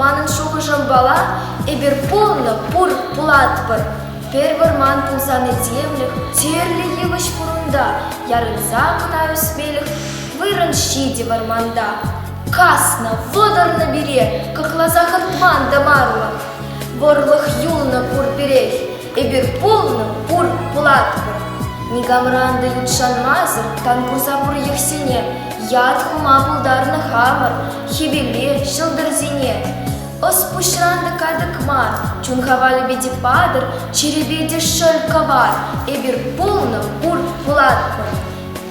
Манӑн шухӑшӑмпала, эпир пулнӑ, пур, пулатпӑр. Пӗр вӑрман пулсан этемлӗх тӗрлӗ йывӑҫ курунта, ярӑнса кӑна ӳсмелӗх вырӑн ҫитӗ вӑрманта. Каснӑ, вӑтӑрнӑ пире, кӑкласа хӑтман тымарлӑх. Вӑрлӑх юлнӑ пур пирех, Эпир пулнӑ пур пулатпӑр. Никамран та ют шанмасӑр тан курса пур йӑхсене. Ят хума пултарнӑ хамӑр хӗвеле, ҫӑлтӑрсене. Ӑс пуҫран та катӑк мар, чун хавалӗпе те патӑр, чирӗпе те шӑл кӑвар. Эпир пулнӑ пур пулатпӑр.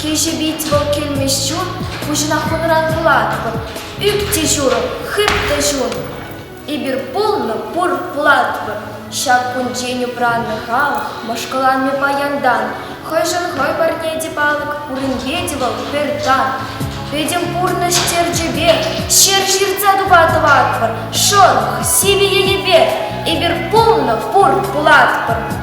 Кӗҫӗ пит вӑл килмест чун, Пуҫӑнах хунӑран вулатпӑр. Ӳп те ҫурӑ, хыт та чун. Эпир пулнӑ, пур пулатпӑр. Ҫак кунччен упраннӑ халӑх Мӑшкӑланнӑ паянтан. Хӑйшӗн хӑй парне те палӑк, Пуринке те вӑл пӗр тан. Пӗтӗм пурнӑҫ черчӗпе Ҫеп ҫыртса тупа тӑватпӑр. Шӑрӑх, сивӗ елӗпе Эпир пулнӑ, пур пулатпӑр.